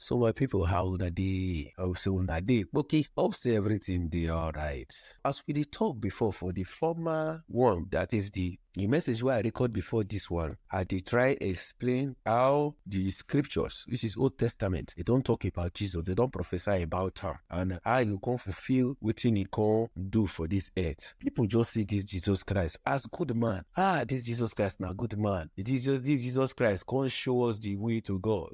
So my people, how una dey? Hope say una dey okay. Hope say everything dey alright. As we dey talk before for the former one, that is the the message wey I record before this one, I dey try explain how the scriptures, which is Old Testament, they don talk about Jesus, they don prophesy about am, and how you come fulfill wetin he come do for this earth. People just see this Jesus Christ as good man. Ah, this Jesus Christ na good man. This Jesus, this Jesus Christ come show us the way to God.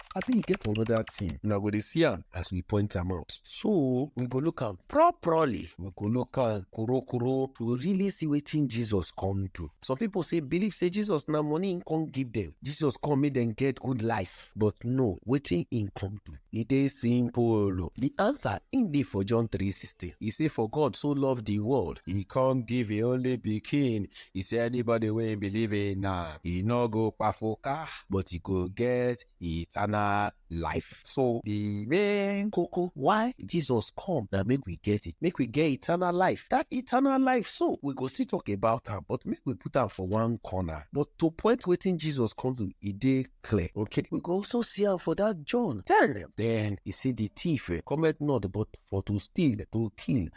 abi e get another thing una go dey see am as we point am out so we go look am properly we go look am korokoro to really see wetin jesus come do some people say believe say jesus na money him come give them jesus come make them get good life but no wetin him come do e dey simple o the answer im dey for john 3:16 e say for god so love the world e come give him only pikin He say anybody wey im believe in na e no go kpafuka but e go get eternal life. So the main koko why Jesus come na make we get it, make we get eternal life. That eternal life so we go still talk about am but make we put am for one corner. But to point wetin Jesus come do, e dey clear. Okay, we go also see am for that John ten. Then he say the thief eh, cometh not but for to steal, to kill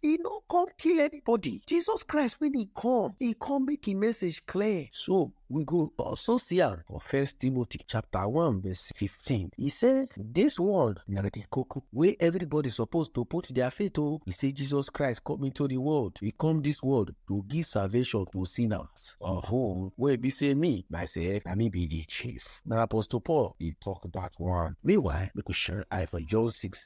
He no come kill anybody. Jesus Christ, when he come, he come make his message clear. So we go also see am for First Timothy chapter one verse fifteen. He say this one na the koko wey everybody suppose to put their faith o. He say Jesus Christ come into the world. He come this world to give salvation to sinners. Oho, wey be say me myself na me be the chief. Na Apostle Paul dey talk that one. Meanwhile, make we shine eye for John six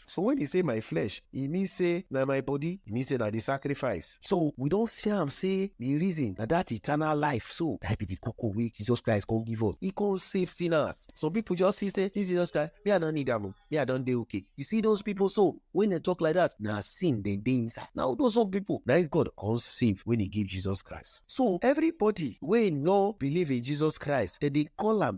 So when he say my flesh, he mean say na my body, he mean say na the sacrifice. So we don see am say the reason na that eternal life so that be the koko wey Jesus Christ come give us. He come save sinners. Some people just feel say this Jesus Christ, me I no need am o, me I don dey okay. You see those people so when they talk like that, na sin dem dey inside. Na all those some people na God come save when he give Jesus Christ. So everybody wey no believe in Jesus Christ, dem dey call am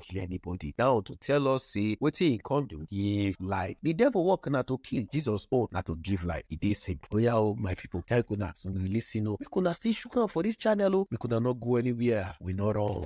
kill anybody. Now to tell us say wetin he come do give life. The devil work na to kill, Jesus own na to give life. E dey simple. Oya o my people, thank una so una lis ten o. Make una still shook am for this channel o. Make una no go anywhere, we no run.